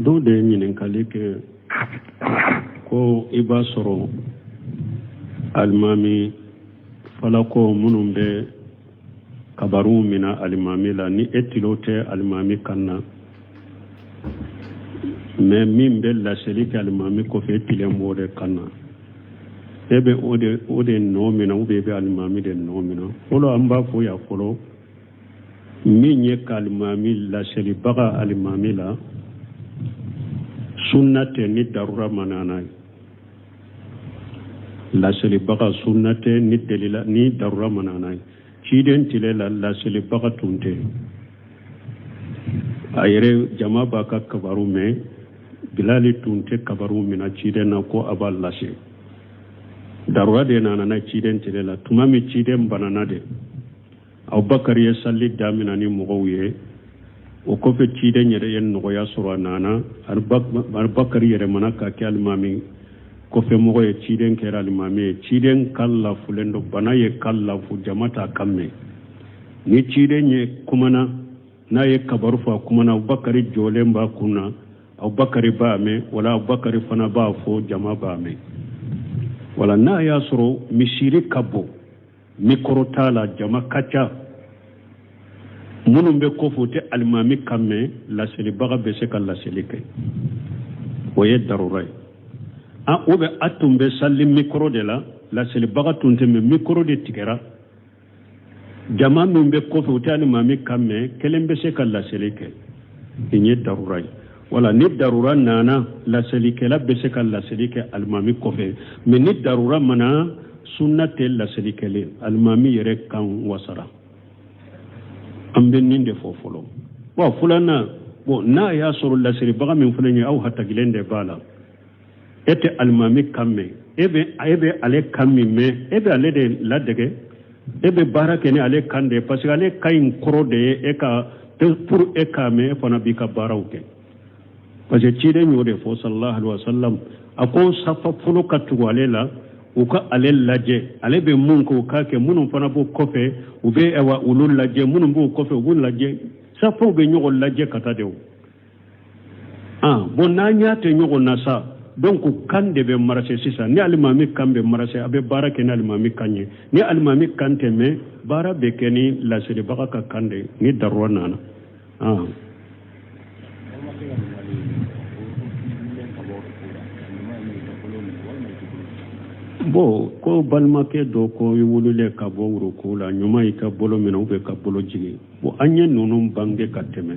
Dɔw de ye ɲininkali kɛ ko i b'a sɔrɔ alimami falakɔ minnu bɛ kabaru mina alimami la ni e tulo tɛ alimami kan na mais min bɛ laseli kɛ alimami kɔfɛ e tulo b'o de kan na e bɛ o de nɔ mina ou bien e bɛ alimami de nɔ mina fɔlɔ an b'a fɔ yan fɔlɔ min ye ka alimami laselibaga alimami la sunna tɛ ni darura ma na n'a ye laselibaga sunna tɛ ni delila ni darura ma na n'a ye ciden tile la laselibaga tun tɛ a yɛrɛ jama b'a ka kabaru mɛn bilali tun tɛ kabaru mina ciden na ko a b'a lase darura de nana na ciden tile la tuma min ciden banana de abubakari ye sali damina ni mɔgɔw ye o kɔfɛ ciden yɛrɛ ye nɔgɔya sɔrɔ a nana abubakari yɛrɛmana ka kɛ alimami kɔfɛ mɔgɔ ye ciden kɛra alimami ye ciden kan lafulen don bana y'a kan lafu jama t'a kan mɛn ni ciden ye kumana n'a ye kabaru fɔ a kumana abubakari jɔlen b'a kun na abubakari b'a mɛn wala abubakari fana b'a fɔ jama b'a mɛn wala n'a y'a sɔrɔ misiri ka bon mikɔrɔ t'a la jama ka ca minnu bɛ kɔfɛ u tɛ alimami kan mɛn laselibaga bɛ se ka laseli kɛ o ye darura ye ah ou bien a tun bɛ sali mikɔrɔ de la laselibaga tun tɛ mais mikɔrɔ de tigɛra jama min bɛ kɔfɛ u tɛ alimami kan mɛn kelen bɛ se ka laseli kɛ nin ye darura ye wala ni darura nana laselikɛla bɛ se ka laseli kɛ alimami kɔfɛ mais ni darura ma na sunna tɛ laseli kɛlen alimami yɛrɛ kan wasara an bɛ nin de fɔ fɔlɔ wa filanan bon n'a y'a sɔrɔ laselibaga min fana ye aw hatakilen de b'a la e tɛ alimami kan mɛn e bɛ e bɛ ale kan min mɛn e bɛ ale de ladege e bɛ baara kɛ ni ale kan de ye parce que ale kan in kɔrɔ de ye e ka pour e k'a mɛn e fana b'i ka baaraw kɛ parce que ciden y'o de fɔ sallallahu alaihi wa sallam a ko safa fɔlɔ ka tugu ale la u ka ale lajɛ ale bɛ mun kɛ u k'a kɛ minnu fana b'o kɔfɛ u bɛ olu lajɛ minnu b'o kɔfɛ u b'u lajɛ safaw bɛ ɲɔgɔn lajɛ ka taa de o ah, bon n'an ɲa tɛ ɲɔgɔn na sa donc kan de bɛ marcher sisan ni alimami kan bɛ marcher a bɛ baara kɛ ni alimami kan ye ni alimami kan tɛ mɛn baara bɛ kɛ ni laselibaga ka kan de ni darura nana ah. bon ko balimakɛ dɔ ko i wulilen ka bɔ ruku la ɲuman y'i ka bolo minɛ ou bien ka bolo jigin bon an ye ninnu bange ka tɛmɛ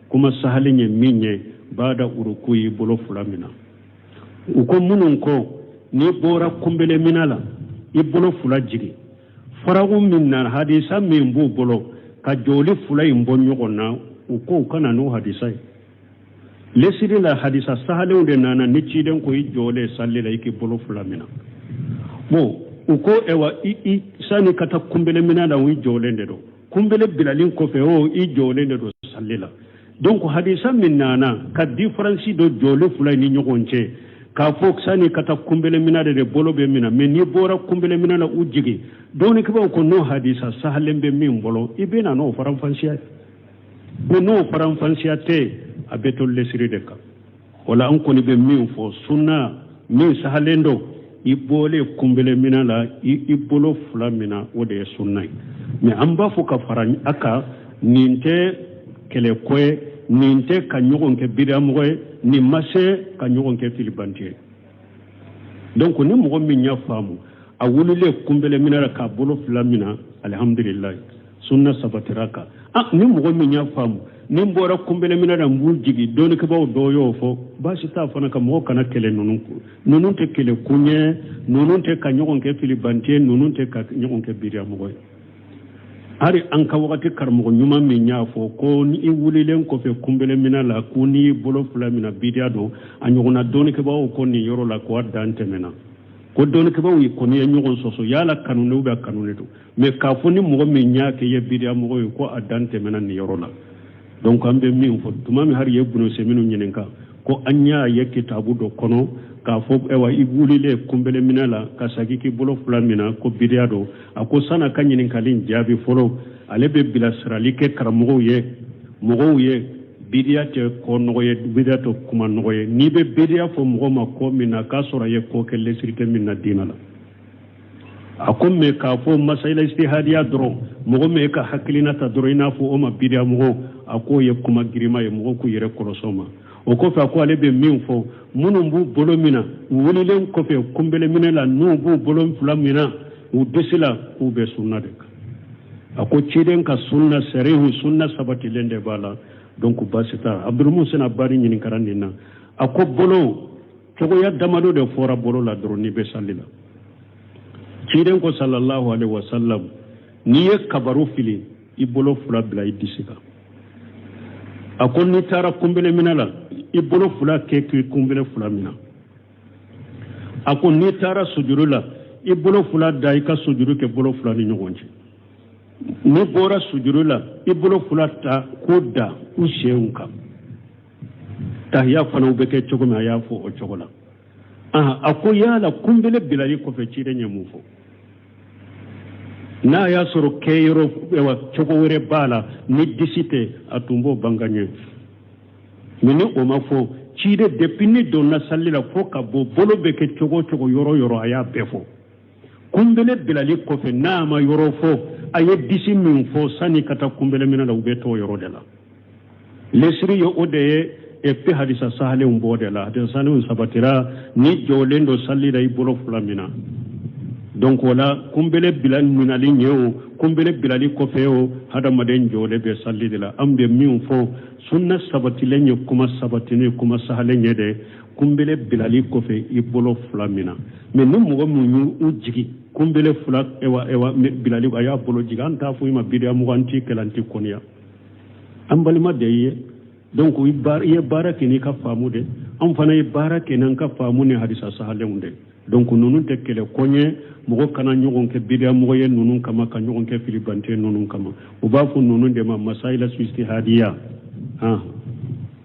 kuma sahalen ye min ye baada uruku y'i bolo fila mina u ko minnu ko n'i bɔra kunbelemina la i bolo fila jigin faragu min na hadisa min b'u bolo ka jɔli fila in bɔ ɲɔgɔn na u ko u ka na n'o hadisa ye lesiri la hadisa sahalenw de nana ni ciden ko i jɔlen salli la i k'i bolo fila minɛ bon u ko ayiwa i sani ka taa kunbeleminɛ la i jɔlen de don kunbele bilalen kɔfɛ o i jɔlen de don sali la donc hadisa min nana ka diferansi don jɔlen fila ni ɲɔgɔn cɛ k'a fɔ sani ka taa kunbelemina de de bolo bɛ mina mɛ n'i bɔra kunbelemina na u jigin dɔɔnikɛbaaw ko n'o hadisa sahalen bɛ min bolo i bɛ na n'o faranfasiya ye bon n'o faranfasiya tɛ a bɛ to lesiri de kan o la an kɔni bɛ min fɔ sunna min sahalen don i bɔlen kunbele mina la i bolo fila mina o de ye sunna ye mɛ an b'a fɔ ka fara a kan nin tɛ kɛlɛko ye nin tɛ ka ɲɔgɔn kɛ bidamɔgɔ ye nin ma se ka ɲɔgɔn kɛ filibanti ye donc ni mɔgɔ min y'a faamu a wulilen kunbɛlɛ minɛ la k'a bolo fila mina alihamdulilayi sunna sabatira kan ah ni mɔgɔ min y'a faamu ni n bɔra kunbɛlɛ minɛ na n b'u jigin dɔɔnikɛbaaw dɔw y'o fɔ baasi t'a fana ka mɔgɔ kana kɛlɛ ninnu ko ninnu tɛ kɛlɛ kun ye ninnu tɛ ka ɲɔgɔn kɛ filibanti ye ninnu tɛ ka ɲɔgɔn kɛ bidiya mɔgɔ ye hari an ka wagati karamɔgɔ ɲuman min y'a fɔ ko ni i wulilen kɔfɛ kunbele mina la ko n'i bolo fila mina bidiya don a ɲɔgɔnna dɔɔnikɛbaaw ko nin yɔrɔ la ko a dan tɛmɛna ko dɔɔnikɛbaaw kɔni ye ɲɔgɔn sɔsɔ yala kanunen bɛ kanunen don mɛ k'a fɔ ni mɔgɔ min y'a kɛ ye bidiya mɔgɔ ye ko a dan tɛmɛna nin yɔrɔ la donc an bɛ min fɔ tuma min hari ye ibunu useminu ɲininka ko an y'a ye kitabu dɔ kɔnɔ k'a fɔ ayiwa i wulilen kunbeleminɛ la ka sagi k'i bolo fila mina ko bidiya don a ko san'a ka ɲininkali jaabi fɔlɔ ale bɛ bilasirali kɛ karamɔgɔw ye mɔgɔw ye bidiya tɛ ko nɔgɔ ye bidiya tɛ kuma nɔgɔ ye n'i bɛ bidiya fɔ mɔgɔ ma ko min na k'a sɔrɔ a ye ko kɛ lesiri tɛ min na diinɛ la a ko mɛ k'a fɔ masayila istihadiya dɔrɔn mɔgɔ m'e ka hakilina ta dɔrɔn i n'a fɔ o ma bidiya mɔgɔ a k'o ye kuma girima ye mɔgɔw k'u yɛrɛ kɔlɔsi o ma o kɔfɛ a ko ale bɛ min fɔ minnu b'u bolo mina u wulilen kɔfɛ kunbeleminɛ la n'u b'u bolo fila mina u disi la k'u bɛ sunna de kan a ko ciden ka sunna sarihu sunna sabatilen de b'a la donc basi t'a abdulmusin abadi ɲininkara nin na a ko bolo cogoya damado de fɔra bolo la dɔrɔn n'i bɛ sali la ciden ko sallallahu alaihi wasallam n'i ye kabaru fili i bolo fila bila i disi kan a ko n'i taara kunbele minɛ la i bolo fila kɛ k'i kunbele fila minɛ a ko n'i taara sujuru la i bolo fila da i ka sujuru kɛ bolo fila ni ɲɔgɔn cɛ n'i bɔra sujuru la i bolo fila ta k'u da u senw kan tahiya fana u bɛ kɛ cogo min a y'a fɔ o cogo la a ko yala kunbele bilali kɔfɛ ciden ye mun fɔ n'a y'a sɔrɔ kɛ yɔrɔ cogo wɛrɛ b'a la ni disi tɛ a tun b'o banga ɲɛ mais ni o ma fɔ ciden depuis n'i donna salli la fo ka bɔ bolo bɛ kɛ cogo o cogo yɔrɔ yɔrɔ a y'a bɛɛ fɔ kunbele bilali kɔfɛ n'a ma yɔrɔ fɔ a ye disi min fɔ sani ka taa kunbele minɛ la u bɛ t'o yɔrɔ de la lesiri ye o de ye epi hadisa sahalenw b'o de la hadisa sahalenw sabatira n'i jɔlen don sali la i bolo fila mina donc wala kunbele bila minali ɲɛ o kunbele bilali kɔfɛ o hadamaden jɔlen bɛ sali de la an bɛ min fɔ sunna sabatilen ye kuma sabatinen kuma sahalen ye dɛ kunbele bilali kɔfɛ i bolo fila mina mais ni mɔgɔ min y'u jigi kunbele fila ewa ewa bilali a y'a bolo jigi an t'a fɔ i ma bidiya mɔgɔ an t'i kɛlɛ an t'i kɔniya an balima de y'i ye donc i ye baara kɛ n'i ka faamu de an fana ye baara kɛ n'an ka faamu ni hadisa sahalenw de donc ninnu tɛ kɛlɛ kun ye mɔgɔ kana ɲɔgɔn kɛ bidiya mɔgɔ ye ninnu kama ka ɲɔgɔn kɛ filibante ninnu kama u b'a fɔ ninnu de ma masayila ijtihadiya han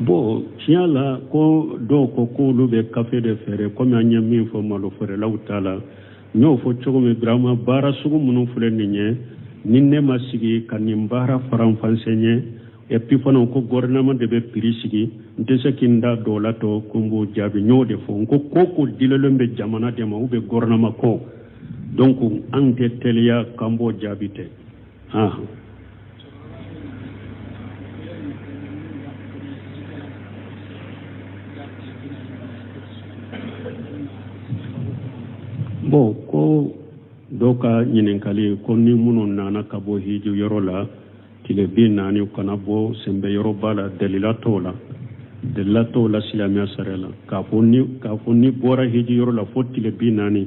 bon tiɲɛ la ko dɔw ko k'olu bɛ kafe de feere komi an ye min fɔ malo feerelaw ta la n y'o fɔ cogo min birama baara sugu minnu filɛ nin ye ni ne ma sigi ka nin baara faranfasi ɲɛ epi fana ko gouvernement de bɛ prix sigi n tɛ se ka n da don o la tɔ ko n b'o jaabi n y'o de fɔ n ko ko o ko dulonnen bɛ jamana de ma ou bien gouvernement ko donc an tɛ teliya k'an b'o jaabi ten ah bon ko dɔw ka ɲininkali ko ni minnu nana ka bɔ hiji yɔrɔ la tile bi naani kana bɔ sɛnbɛ yɔrɔ b'a la dalila t'o la dalila t'o la silamɛya sariya la k'a fɔ n'i bɔra hiji yɔrɔ la fo tile bi naani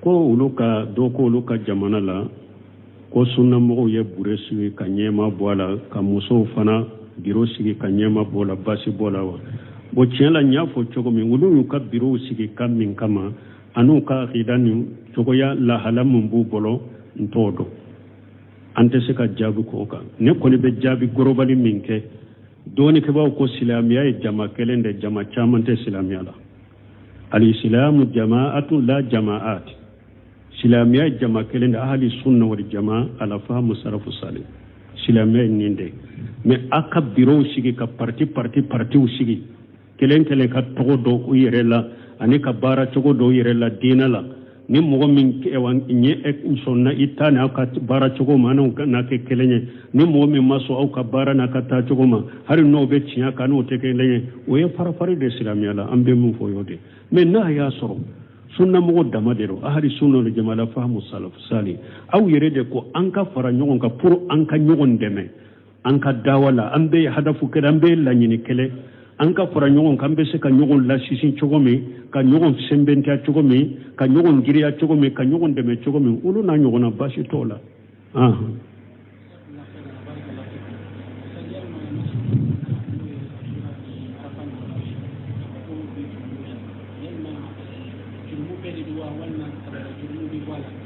ko olu ka dɔ ko olu ka jamana la ko sunnamɔgɔw ye biro sigi ka ɲɛmaa bɔ a la ka musow fana biro sigi ka ɲɛmaa bɔ a la baasi b'o la wa bon tiɲɛ la n y'a fɔ cogo min olu y'u ka birow sigi ka min kama an'u ka akida ni cogoya lahala min b'u bolo n t'o dɔn an tɛ se ka jaabi k'o kan ne kɔni bɛ jaabi global min kɛ dɔnnikɛbaaw ko silamɛya ye jama kelen de jama caman tɛ silamɛya la alisilamu jama'atu la jama'at silamiya ye jama kelen de ahli sunna wal jama'a ala fahamu salafu salih silamiya ye nin de mais a ka birow sigi ka parti parti partiw sigi kelen kelen ka tɔgɔ da u yɛrɛ la ani ka baara cogo da u yɛrɛ la diinɛ la ni mɔgɔ min ɲɛ sɔnna i ta n'a ka baara cogo ma n'o n'a kɛ kelen ye ni mɔgɔ min ma sɔn aw ka baara n'a ka taa cogo ma hali n'o bɛ tiɲɛ kan n'o tɛ kelen ye o ye farafari de silamɛya la an bɛ min fɔ y'o de mais n'a y'a sɔrɔ sunnamɔgɔ dama de don ahli sunna wal jama'a ala fahamu salafu salih aw yɛrɛ de ko an ka fara ɲɔgɔn kan pour an ka ɲɔgɔn dɛmɛ an ka dawa la an bɛɛ hadafu kelen an bɛɛ laɲini kelen an ka fara ɲɔgɔn kan an bɛ se ka ɲɔgɔn lasinsin cogo min ka ɲɔgɔn sɛbɛntiya cogo min ka ɲɔgɔn giriya cogo min ka ɲɔgɔn dɛmɛ cogo min olu n'a ɲɔgɔnna baasi t'o la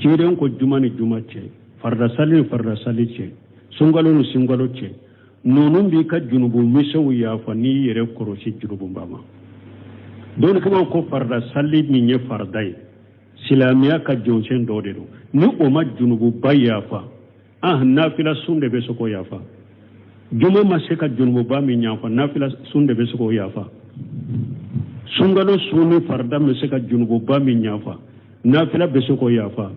ciden ko juma ni juma cɛ farida sali ni farida sali cɛ sunkalo ni sunkalo cɛ ninnu b'i ka junubu misɛnw yafa n'i yɛrɛ kɔrɔsi junububa ma dɔnnikɛbaaw ko farida sali min ye farida ye silamɛya ka jɔsen dɔ de don ni o ma junububa yafa ah nafila sun de bɛ se k'o yafa juma ma se ka junububa min yafa nafila sun de bɛ se k'o yafa sunkalo sun ni farida ma se ka junububa min yafa nafila bɛ se k'o yafa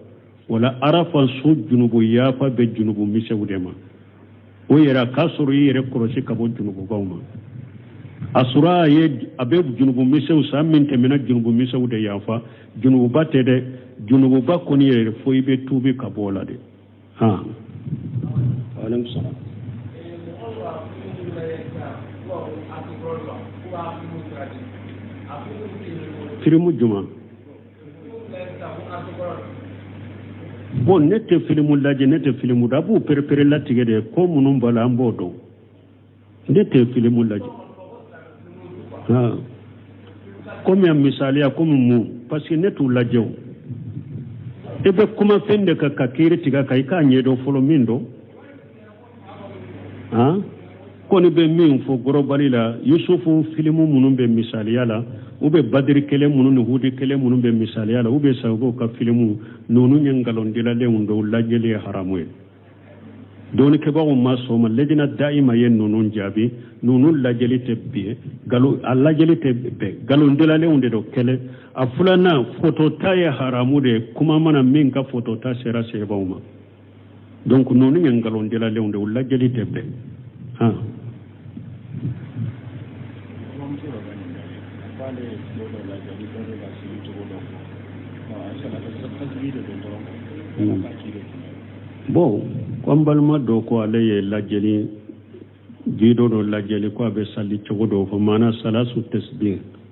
wala arafa sun junubu yafa bɛ junubu misɛnw de ma o yɛrɛ a k'a sɔrɔ i yɛrɛ kɔlɔsi ka bɔ junububaw ma asura ye a bɛ junubu misɛnw san min tɛmɛna junubu misɛnw de yafa junububa tɛ dɛ junububa kɔni yɛrɛ fo i bɛ tuubi ka bɔ o la de filimu jumɛn bon ne tɛ filimu lajɛ ne tɛ filimu da a b'u pereperelatigɛ de ko minnu b'a la an b'o dɔn ne tɛ filimu lajɛ komi a misaliya komi mun parce que ne t'u lajɛ o i bɛ kuma fɛn de kan ka kiri tigɛ a kan i k'a ɲɛdɔn fɔlɔ min don a kɔni bɛ min fɔ gɔrɔbali la yusufu filimu minnu bɛ misaliya la ou bien badiri kɛlɛ minnu ni hudi kɛlɛ minnu bɛ misaliya la ou bien sagogo ka filimu ninnu ye nkalondilalenw de o lajɛli ye haramu ye dɔnnikɛbaaw ma sɔn a ma lajina dayima ye ninnu jaabi ninnu lajɛli tɛ bɛn nkalon a lajɛli tɛ bɛn nkalondilalenw de don kelen a filanan fotota ye haramu de ye kuma mana min ka fotota sera sahabaw ma donc ninnu ye nkalondilalenw de o lajɛli tɛ bɛn han bon ko an balima dɔ ko ale ye lajɛli jido dɔ lajɛli ko a bɛ sali cogo dɔ fɔ maana salatu tasbih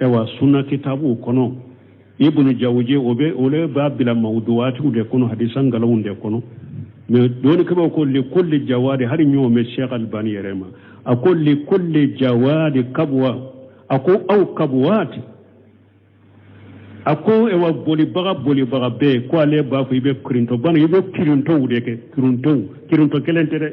ayiwa sunna kitabuw kɔnɔ ibnu jawuje o le b'a bila mawuduwaatiw de kɔnɔ hadisa nkalonw de kɔnɔ mais dɔnnikɛbaaw ko li kulli jawadi hali ɲɔgɔn bɛ sheikh albani yɛrɛ ma a ko li kulli jawadi kabuwa a ko aw kabuwaati a ko ewa bolibaga bolibaga bɛɛ ko ale b'a fɔ i bɛ kirintɔ bana i bɛ kirintɔw de kɛ kirintɔw kirintɔ kelen tɛ dɛ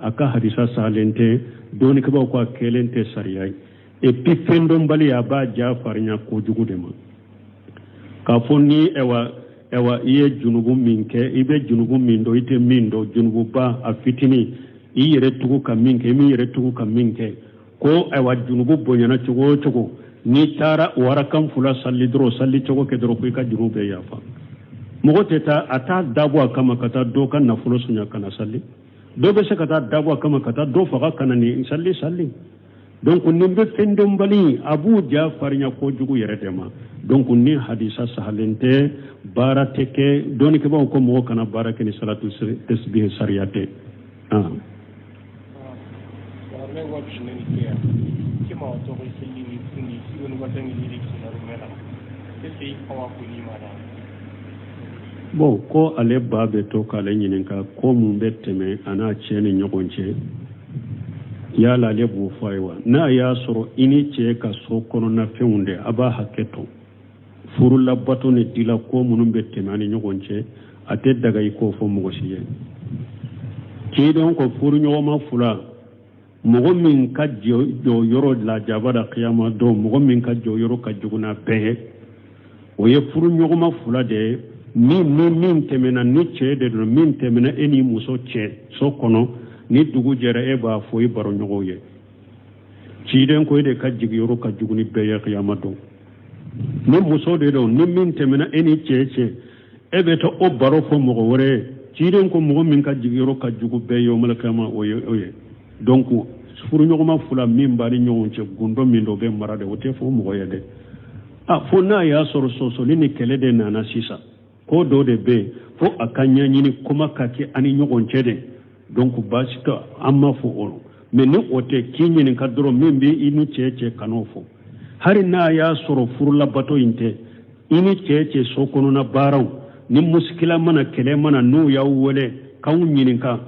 a ka hadisa sahalen tɛ dɔnnikɛbaaw ko a kɛlen tɛ sariya ye epi fɛndɔnbali a b'a ja farinya kojugu de ma k'a fɔ ni ɛwa ɛwa i ye junubu min kɛ i bɛ junubu min dɔn i tɛ min dɔn junububa a fitinin i yɛrɛ tugu ka min kɛ i m'i yɛrɛ tugu ka min kɛ ko ɛwa junubu bonyana cogo o cogo n'i taara warakan fula sali dɔrɔn sali cogo kɛ dɔrɔn ko i ka junubu bɛɛ yafa mɔgɔ tɛ taa a t'a dabɔ a kama ka taa dɔ ka nafolo sonya ka na sali dɔ bɛ se ka t'a dabɔ a kama ka taa dɔ faga ka na nin sali sali donc nin bɛ fɛndɔnbali a b'u ja farinya kojugu yɛrɛ de ma donc nin hadisa sahalen tɛ baara tɛ kɛ dɔnnikɛbaaw ko mɔgɔ kana baara kɛ ni salatu tasbihi sariya tɛ ah. bon ko ale ba bɛ to k'ale ɲininka ko mun bɛ tɛmɛ a n'a cɛ ni ɲɔgɔn cɛ yala ale b'o fɔ a ye wa n'a y'a sɔrɔ i n'i cɛ ka so kɔnɔnafɛnw de a b'a hakɛ to furu labato ni dilanko minnu bɛ tɛmɛ aw ni ɲɔgɔn cɛ a tɛ daga i k'o fɔ mɔgɔ si ye k'i dɔn ko furuɲɔgɔnma fila mɔgɔ min ka jɔyɔrɔ lajaba da kiyama don mɔgɔ min ka jɔyɔrɔ ka jugu n'a bɛɛ o ye furuɲɔgɔnma fila de ye min ni min tɛmɛna ni cɛ de don min tɛmɛna e ni muso cɛ so kɔnɔ ni dugu jɛra e b'a fɔ i baroɲɔgɔnw ye ciden ko e de ka jigiyɔrɔ ka jugu ni bɛɛ ye kiyama don ni muso de don ni min tɛmɛna e ni cɛ cɛ e bɛ taa o baro fɔ mɔgɔ wɛrɛ ye ciden ko mɔgɔ min ka jigiyɔrɔ ka jugu bɛɛ ye yawmal kiyama o ye o ye donc furuɲɔgɔnma fila min b'a ni ɲɔgɔn cɛ gundo min dɔ bɛ mara de o tɛ fɔ mɔgɔ ye dɛ a fo n'a y'a sɔrɔ sɔsɔli ni kɛlɛ de nana sisan ko dɔ de bɛ yen fo a ka ɲɛɲini kuma ka kɛ a ni ɲɔgɔn cɛ dɛ donc baasi tɛ an m'a fɔ o mais ni o tɛ k'i ɲininka dɔrɔn min bɛ i ni cɛ cɛ kan'o fɔ hali n'a y'a sɔrɔ furulabato in tɛ i ni cɛ cɛ so kɔnɔna baaraw ni musikila mana kɛlɛ mana n'u y'aw wele k'aw ɲininka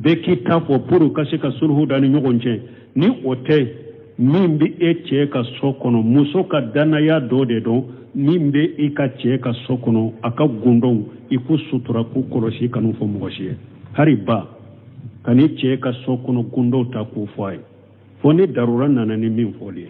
bɛɛ k'i ta fɔ pour ka se ka suluhu da ni ɲɔgɔn cɛ ni o tɛ min bɛ i cɛ ka so kɔnɔ muso ka dannaya dɔ de don min bɛ i ka cɛ ka so kɔnɔ a ka gundow i k'u sutura k'u kɔlɔsi kan'u fɔ mɔgɔ si ye hari ba kan'i cɛ ka so kɔnɔ gundow ta k'u fɔ a ye fo ni darura nana ni min fɔli ye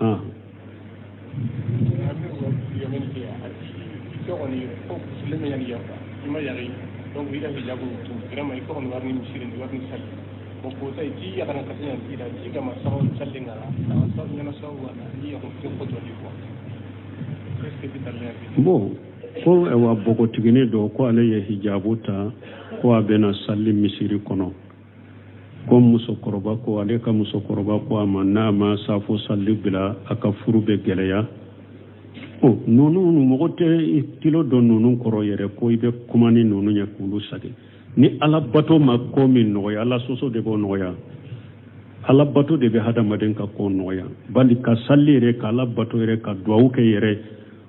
Ah. bon ko ayiwa npogotiginin don ko ale ye hijabu ta ko a bɛ na sali misiri kɔnɔ ko musokɔrɔba ko ale ka musokɔrɔba ko a ma n'a ma safo sali bila a ka furu bɛ gɛlɛya ɔ ninnu mɔgɔ tɛ tilo don ninnu kɔrɔ yɛrɛ ko i bɛ kuma ni ninnu ye k'olu sage ni ala bato ma ko min nɔgɔya ala sɔsɔ de b'o nɔgɔya ala bato de bɛ hadamaden ka ko nɔgɔya bali ka sali yɛrɛ ka ala bato yɛrɛ ka duwawu kɛ yɛrɛ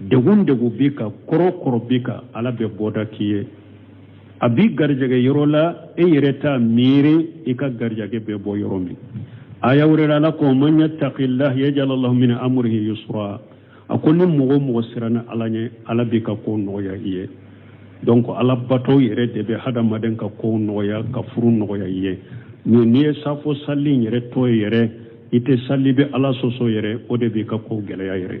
degun degun b'i kan kɔrɔ kɔrɔ b'i kan ala bɛ bɔda k'i ye a b'i garijɛgɛ yɔrɔ la e yɛrɛ t'a miiri i ka garijɛgɛ bɛ bɔ yɔrɔ min aya wɛrɛ la ala ko man yattaqillaha yaj'al lahu min amrihi yusra a ko ni mɔgɔ o mɔgɔ siranna ala ɲɛ ala b'i ka ko nɔgɔya i ye donc ala bato yɛrɛ de bɛ hadamaden ka ko nɔgɔya ka furu nɔgɔya i ye mais n'i ye safo sali yɛrɛ to yen yɛrɛ i tɛ sali bɛ ala sɔsɔ yɛrɛ o de b'i ka ko gɛlɛya yɛrɛ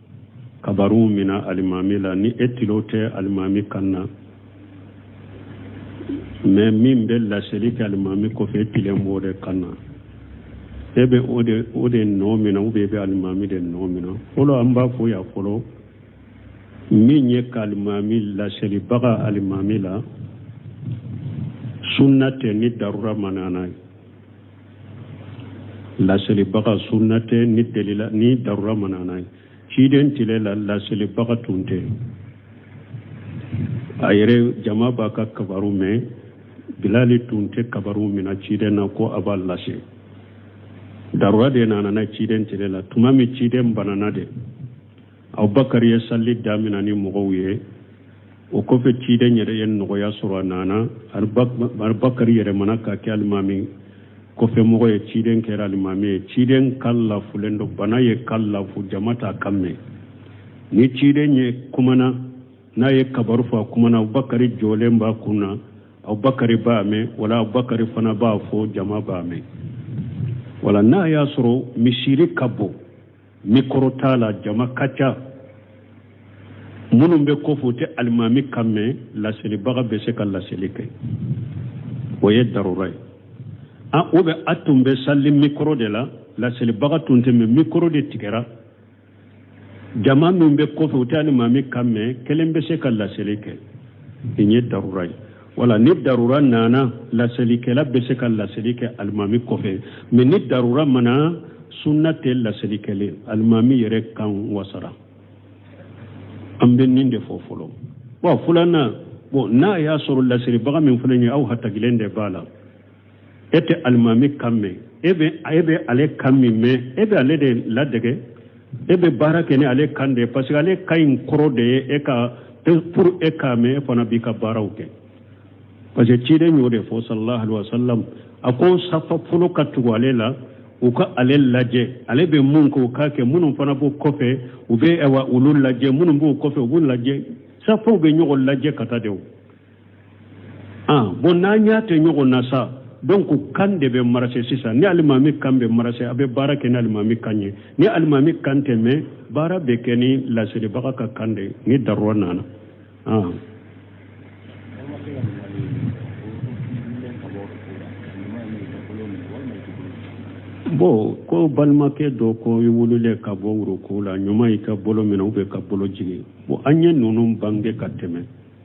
kabaruw mina alimami la ni e tilo tɛ alimami kan na mais min bɛ laseli kɛ alimami kɔfɛ e tilo b'o de kan na e bɛ o de o de nɔ mina ou bien e bɛ alimami de nɔ mina fɔlɔ an b'a fɔ yan fɔlɔ min ye ka alimami laselibaga alimami la sunna tɛ ni darura ma na n'a ye laselibaga sunna tɛ ni delila ni darura ma na n'a ye ciden tile la laselibaga tun tɛ a yɛrɛ jama b'a ka kabaru mɛn bilali tun tɛ kabaru mina ciden na ko a b'a lase darura de nana na ciden tile la tuma min ciden banana de abubakar ye sali damina ni mɔgɔw ye o kɔfɛ ciden yɛrɛ ye nɔgɔya sɔrɔ a nana abubakar yɛrɛmana ka kɛ alimami kɔfɛmɔgɔ ye ciden kɛra alimami ye ciden kan lafulen don bana y'a kan lafu jama t'a kan mɛn ni ciden ye kumana n'a ye kabaru fɔ a kumana abubakar jɔlen b'a kun na abubakar b'a mɛn wala abubakar fana b'a fɔ jama b'a mɛn wala n'a y'a sɔrɔ misiri ka bon mikɔrɔ t'a la jama ka ca minnu bɛ kɔfɛ u tɛ alimami kan mɛn laselibaga bɛ se ka laseli kɛ o ye darura ye ou bien a tun bɛ sali mikɔrɔ de la laselibaga tun tɛ mais mikɔrɔ de tigɛra jama min bɛ kɔfɛ u tɛ alimami kan mɛn kelen bɛ se ka laseli kɛ nin ye darura ye wala ni darura nana laselikɛla bɛ se ka laseli kɛ alimami kɔfɛ mais ni darura ma na sunna tɛ laseli kɛlen alimami yɛrɛ kan wasara an bɛ nin de fɔ fɔlɔ wa filanan bon n'a y'a sɔrɔ laselibaga min fana ye aw hatakilen de b'a la e tɛ alimami kan mɛn e bɛ e bɛ ale kan min mɛn e bɛ ale de ladege e bɛ baara kɛ ni ale kan de ye parce que ale kan in kɔrɔ de ye e ka pour e k'a mɛn e fana b'i ka baaraw kɛ parce que ciden y'o de fɔ sallallahu alaihi wa sallam a ko safa fɔlɔ ka tugu ale la u ka ale lajɛ ale bɛ mun kɛ u k'a kɛ minnu fana b'o kɔfɛ u bɛ olu lajɛ minnu b'o kɔfɛ u b'u lajɛ safaw bɛ ɲɔgɔn lajɛ ka taa de o ah, bon n'an ɲa tɛ ɲɔgɔn na sa donc kan de bɛ marcher sisan ni alimami kan bɛ marcher a bɛ baara kɛ ni alimami kan ye ni alimami kan tɛ mɛn baara bɛ kɛ ni laselibaga ka kan de ni darura nana ah. bon ko balimakɛ dɔ ko i wulilen ka bɔ uruku la ɲuman y'i ka bolo minɛ ou bien ka bolo jigin bon an ye ninnu bange ka tɛmɛ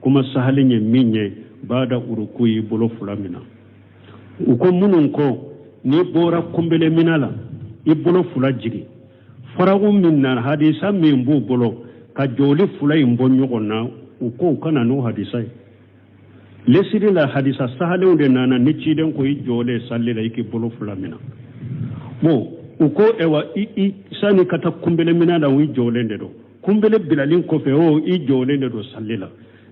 kuma sahalen ye min ye bada uruku y'i bolo fila mina u ko minnu ko n'i bɔra kunbelemina la i bolo fila jigin faragu min na hadisa min b'u bolo ka jɔli fila in bɔ ɲɔgɔn na u ko u ka na n'o hadisa ye lasiri la hadisa sahalenw de nana ni ciden ko i jɔlen salli la i k'i bolo fila mina bon u ko ewa i sani ka taa kunbelemina la u i jɔlen de don kunbele bilalen kɔfɛ o i jɔlen de don sali la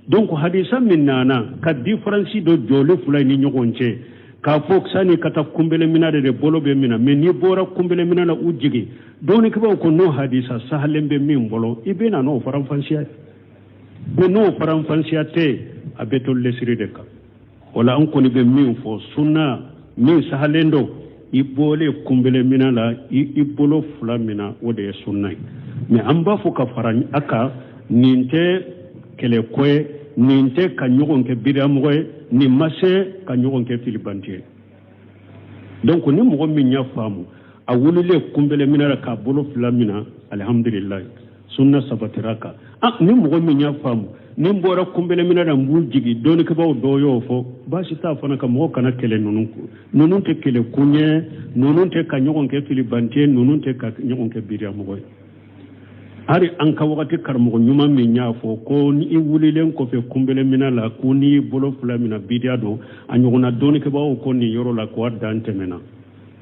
donc hadisa min nana ka diferansi don jɔlen fila in ni ɲɔgɔn cɛ k'a fɔ sani i ka taa kunbelemina de de bolo bɛ mina mɛ n'i bɔra kunbelemina na u jigin dɔnnikɛbaaw ko n'o hadisa sahalen bɛ min bolo i bɛ na n'o faranfasiya ye mɛ n'o faranfasiya tɛ a bɛ to lesiri de kan o la an kɔni bɛ min fɔ sunna min sahalen don i bɔlen kunbele mina la i bolo fila mina o de ye sunna ye mɛ an b'a fɔ ka fara a kan nin tɛ kɛlɛko ye nin tɛ ka ɲɔgɔn kɛ bidiyamɔgɔ ye nin ma se ka ɲɔgɔn kɛ filibante ye donc ni mɔgɔ min y'a faamu a wululen kunbele mina la k'a bolo fila mina alihamdulilayi sunna sabatira a kan ah, ni mɔgɔ min y'a faamu ni n bɔra kunbeleminɛ na n b'u jigi dɔnnikɛbaaw dɔw y'o fɔ baasi t'a fana kan mɔgɔ kana kɛlɛ ninnu ko ninnu tɛ kɛlɛkun ye ninnu tɛ ka ɲɔgɔn kɛ filibante ye ninnu tɛ ka ɲɔgɔn kɛ bidiyamɔgɔ ye hali an ka wagati karamɔgɔ ɲuman min y'a fɔ ko ni i wulilen kɔfɛ kunbeleminɛ la ko n'i y'i bolo fila mina bidiya don a ɲɔgɔnna dɔnnikɛbaaw ko nin yɔrɔ la ko a dan tɛmɛna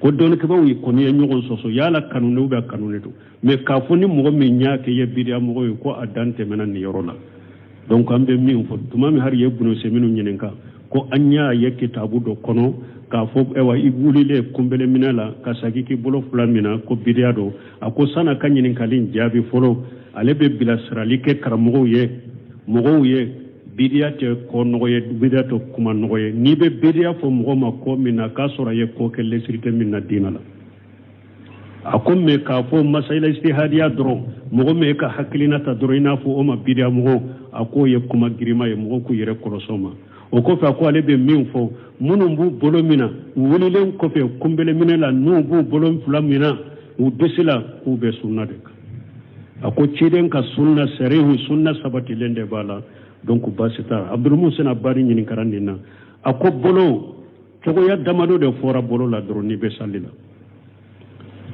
ko dɔnnikɛbaaw kɔni ye ɲɔgɔn sɔsɔ yala kanunen bɛ kanunen don mɛ k'a fɔ ni mɔgɔ min y'a kɛ ye bidiya mɔgɔ ye ko a dan tɛmɛna nin yɔrɔ la donc an bɛ min fɔ tuma min hali ibunu useminu ɲininka ko an y'a ye kitabu dɔ kɔnɔ k'a fɔ ayiwa i wulilen kunbele minɛ la ka sagi k'i bolo fila mina ko bidiya don a ko san'a ka ɲininkali jaabi fɔlɔ ale bɛ bilasirali kɛ karamɔgɔw ye mɔgɔw ye bidiya tɛ ko nɔgɔ ye bidiya tɛ kuma nɔgɔ ye n'i bɛ bidiya fɔ mɔgɔ ma ko min na k'a sɔrɔ a ye ko kɛ lɛsiri tɛ min na diinɛ la a ko mɛ k'a fɔ masayila istihadiya dɔrɔn mɔgɔ min ka hakilinata dɔrɔn i n'a fɔ o ma bidiyamɔgɔ a k'o ye kuma girima ye mɔgɔw k'u yɛrɛ kɔlɔsi o ma o kɔfɛ a ko ale bɛ min fɔ minnu b'u bolo mina u wulilen kɔfɛ kunbeleminɛ la n'u b'u bolo fila mina u disi la k'u bɛ sunna de kan a ko ciden ka sunna sarihu sunna sabatilen de b'a la donc baasi t'a la abdulmusin abadi ɲininkara nin na a ko bolo cogoya damado de fɔra bolo la dɔrɔn n'i bɛ sali la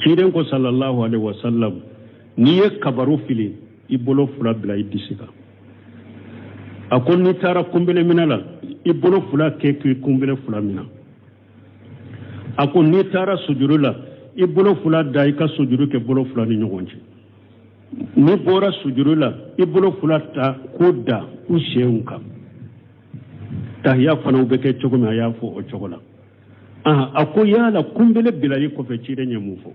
ciden ko salallahu alaihi wasallam n'i ye kabaru fili i bolo fila bila i disi kan a ko n'i taara kunbelemina la i bolo fila kɛ k'i kunbele fila mina a ko n'i taara sujudu la i bolo fila da i ka sujudu kɛ bolo fila ni ɲɔgɔn cɛ n'i bɔra sujudu la i bolo fila ta k'o da u senw kan tahiya fana bɛ kɛ cogo min a y'a fɔ o cogo la a ko yala kunbele bilali kɔfɛ ciden ye mun fɔ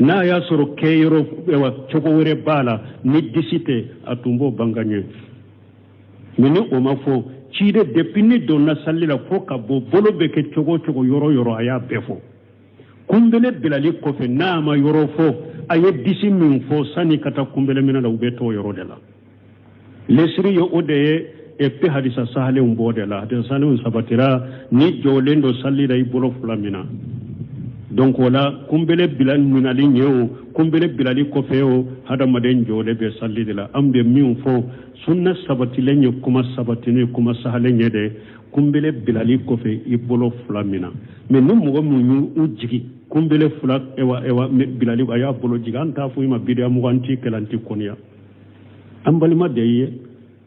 n'a y'a sɔrɔ kɛyɔrɔ cogo wɛrɛ b'a la ni disi tɛ a tun b'o banga ɲɛ mɛ ni o ma fɔ ciden depuis n'i donna sali la fo ka bɔ bolo bɛ kɛ cogo o cogo yɔrɔ yɔrɔ a y'a bɛɛ fɔ kunbele bilali kɔfɛ n'a ma yɔrɔ fɔ a ye disi min fɔ sani ka taa kunbele minɛ la u bɛ t'o yɔrɔ de la lɛsiri ye o de ye epi hadisa sahalenw b'o de la hadisa sahalenw sabatira n'i jɔlen don sali la i bolo fila mina donc o la kunbele bila minali ɲɛ o kunbele bilali kɔfɛ o hadamaden jɔlen bɛ sali de la an bɛ min fɔ sunna sabatilen ye kuma sabatilen ye kuma sahalen ye dɛ kunbele bilali kɔfɛ i bolo fila mina mɛ ni mɔgɔ min y'u jigi kunbele fila ewa ewa bilali a y'a bolo jigin an t'a fɔ i ma bidiya mɔgɔ an t'i kɛlɛ an t'i kɔniya an balima de ye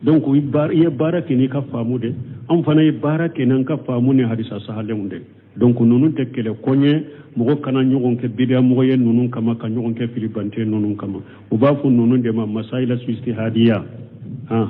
donc i ye baara kɛ n'i ka faamu de an fana ye baara kɛ n'an ka faamu ni hadisa sahalenw de donc ninnu tɛ kɛlɛ kun ye mɔgɔ kana ɲɔgɔn kɛ bidiya mɔgɔ ye ninnu kama ka ɲɔgɔn kɛ filibante ninnu kama u b'a fɔ ninnu de ma masayila istihadiya han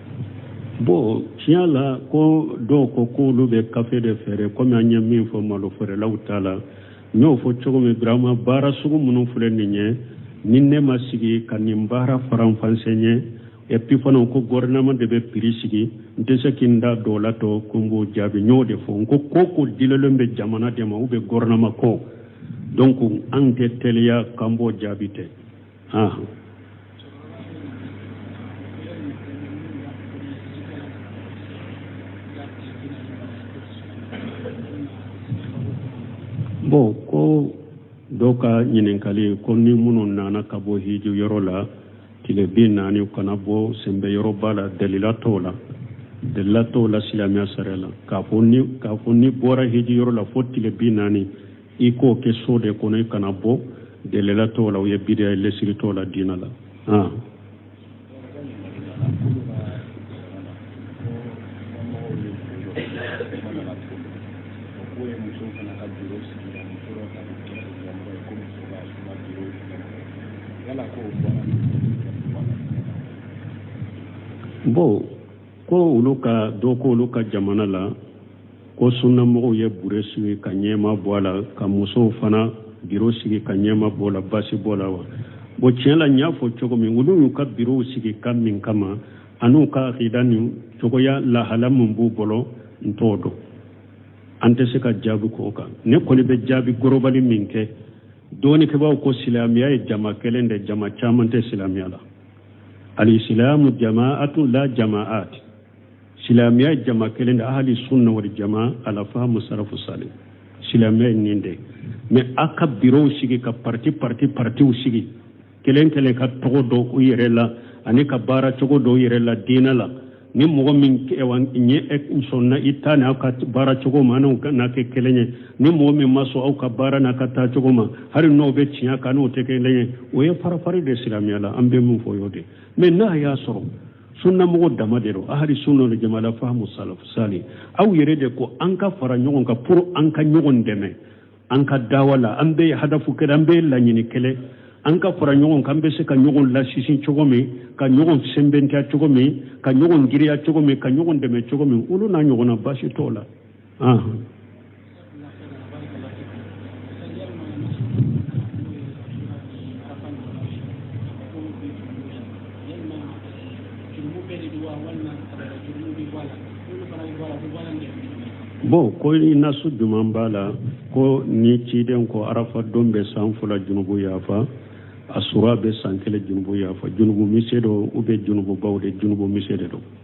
bon tiɲɛ la ko dɔw ko k'olu bɛ kafe de feere komi an ye min fɔ malo feerelaw ta la n y'o fɔ cogo min birama baara sugu minnu filɛ nin ye ni ne ma sigi ka nin baara faranfasiya epi fana ko gɔrɔnɛma de bɛ piri sigi n tɛ se ka n da don o la tɔ ko n b'o jaabi n y'o de fɔ n ko ko ko dilen bɛ jamana de ma u bɛ gɔrɔnɛma kɔ donc an tɛ teliya k'an b'o jaabi ten ah bon ko dɔ ka ɲininkali ko ni minnu nana ka bɔ hiji yɔrɔ la tile bi naani u kana bɔ sɛnbɛyɔrɔ b'a la dalila t'o la dalila t'o la silamɛya sariya la k'a fɔ ni k'a fɔ n'i bɔra hiji yɔrɔ la fo tile bi naani i k'o kɛ so de kɔnɔ i kana bɔ dalila t'o la o ye bidiya ye lɛsiri t'o la diinɛ la ah. bon ko olu ka dɔ ko olu ka jamana la ko sunnamɔgɔw ye biro sigi ka ɲɛmaa bɔ a la ka musow fana biro sigi ka ɲɛmaa bɔ a la basi b'o la wa bon tiɲɛ la n y'a fɔ cogo min olu y'u ka birow sigi ka min kama an'u ka akida ni cogoya lahala min b'u bolo n t'o dɔn an tɛ se ka jaabi k'o kan ne kɔni bɛ jaabi global min kɛ dɔnnikɛbaaw ko silamɛya ye jama kelen de jama caman tɛ silamɛya la alisilamu jamaatu la jamaat silamɛya jama kelen de ahali sunna wal jama ala fahamu salafu sali silamɛya ye nin de mais a ka birow sigi ka parti parti partiw sigi kelen kelen ka tɔgɔ don u yɛrɛ la ani ka baara cogo don u yɛrɛ la diinɛ la ni mɔgɔ min ɲɛ sɔnna i ta ni aw ka baara cogo ma an'u na kɛ kelen ye ni mɔgɔ min ma sɔn aw ka baara n'a ka taa cogo ma hali n'o bɛ tiɲɛ kan n'o tɛ kelen ye o ye farafari de silamɛya la an bɛ min fɔ o y'o de mais n'a y'a sɔrɔ sunnamɔgɔ dama de don ahali sunna wal jama ala fahamu salafu sali aw yɛrɛ de ko an ka fara ɲɔgɔn kan pour an ka ɲɔgɔn dɛmɛ an ka dawa la an bɛɛ ye hadafu kelen an bɛɛ ye laɲini kelen an ka fara ɲɔgɔn kan an bɛ se ka ɲɔgɔn lasinsin cogo min ka ɲɔgɔn sɛnbɛntiya cogo min ka ɲɔgɔn girinya cogo min ka ɲɔgɔn dɛmɛ cogo min olu n'a ɲɔgɔnna baasi t'o la bon ko ni nasu juman b'a la ko ni ciden ko arafa don bɛ san fila junubu yafa asura bɛ san kelen junubu yafa junubu misɛn don ou bien junububaw de junubu misɛn de don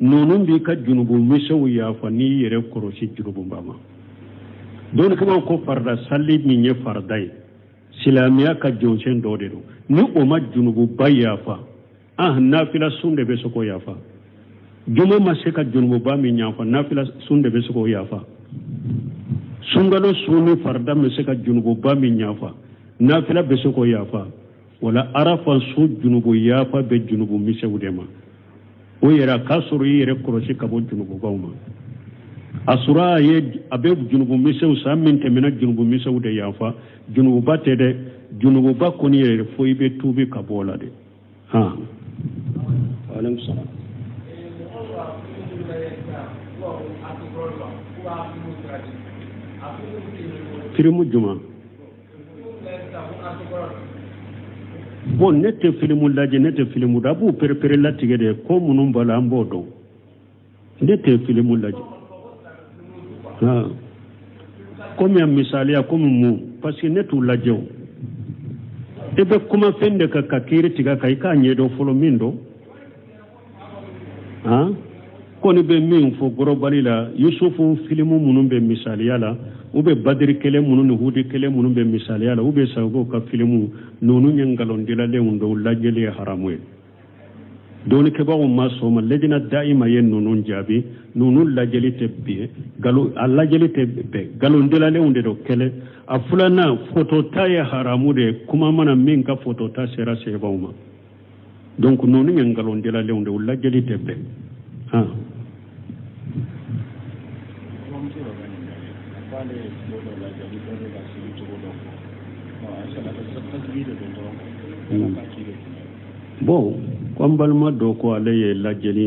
ninnu b'i ka junubu misɛnw yafa n'i yɛrɛ kɔlɔsi junububa ma dɔɔni kama ko farida sali min ye farida ye silamɛya ka jɔsen dɔ de don ni o ma junububa yafa ah nafila sun de bɛ se k'o yafa juma ma se ka junububa min yafa nafila sun de bɛ se k'o yafa sunkalo sun ni farida ma se ka junububa min yafa nafila bɛ se k'o yafa o la arafa sun junubu yafa bɛ junubu misɛnw de ma o yɛrɛ a k'a sɔrɔ i yɛrɛ kɔlɔsi ka bɔ junububaw ma asura ye a bɛ junubu misɛnw san min tɛmɛna junubu misɛnw de yafa junububa tɛ dɛ junububa kɔni yɛrɛ fo i bɛ tuubi ka bɔ o la de han. waaleykum salaam. kirimu juma. bon ne tɛ filimu lajɛ ne tɛ filimu da a b'u pereperelatigɛ de ko minnu b'a la an b'o dɔn ne tɛ filimu lajɛ komi a misaliya komi mun parce que ne t'u lajɛ o i bɛ kuma fɛn de kan ka kiri tigɛ a kan i k'a ɲɛdɔn fɔlɔ min don an kɔni bɛ min fɔ globali la yusufu filimu minnu bɛ misaliya la u bɛ badiri kɛlɛ minnu ni hudi kɛlɛ minnu bɛ misaliya la u bɛ sagogo ka filimu ninnu ye nkalondilalenw don u lajɛli ye haramu ye dɔɔnikɛbagaw ma sɔn a ma lejina dayima ye ninnu jaabi ninnu lajɛli tɛ bɛn nkalon a lajɛli tɛ bɛn nkalondilalenw de don kelen a filanan fotota ye haramu de ye kuma mana min ka fotota sera sabaw ma donc ninnu ye nkalondilalenw de u lajɛli tɛ bɛn han bon ko an balima dɔ ko ale ye lajɛli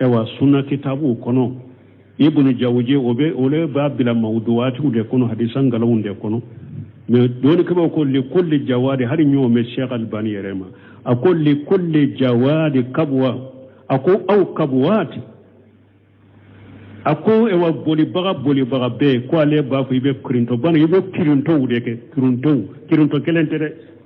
ayiwa sunna kitabuw kɔnɔ ibnu jawuji olu b'a bila mawuduwaatiw de kɔnɔ hadisa nkalonw de kɔnɔ mɛ dɔɔnikɛbaaw ko likulli jawadi hali ɲɔgɔn bɛ sheikh albani yɛrɛ ma a ko likulli jawadi kabuwa a ko aw kabuwaati a ko ayiwa bolibaga bolibaga bɛɛ ko ale b'a fɔ i bɛ kirintɔ bana i bɛ kirintɔw de kɛ kirintɔw kirintɔ kelen tɛ dɛ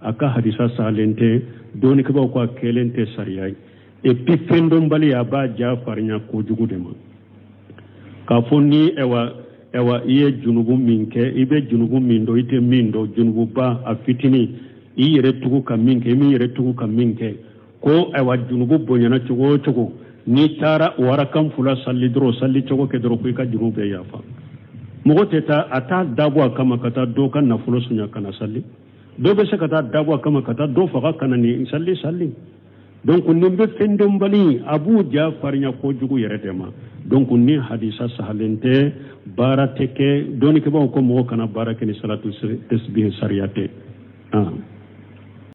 a ka hadisa salen tɛ dɔɔnikɛbaaw ko a kɛlen tɛ sariya ye epi fɛndɔnbali a b'a ja farinya kojugu de ma k'a fɔ ni ɛwa ɛwa i ye junubu min kɛ i bɛ junubu min dɔn i tɛ min dɔn junububa a fitinin i yɛrɛ tugu ka min kɛ i m'i yɛrɛ tugu ka min kɛ ko ɛwa junubu bonyana cogo o cogo n'i taara warakan fula sali dɔrɔn sali cogo kɛ dɔrɔn ko i ka junubu bɛɛ yafa mɔgɔ tɛ taa a t'a dabɔ a kama ka taa dɔ ka nafolo sunya ka na sali dɔ bɛ se ka t'a dabɔ a kama ka taa dɔ faga ka na nin sali sali donc nin bɛ fɛndɔnbaliw a b'u ja farinya kojugu yɛrɛ de ma donc nin hadisa sahalen tɛ baara tɛ kɛ dɔɔnikɛbaaw ko mɔgɔ kana baara kɛ ni salatu tasbihi sariya tɛ.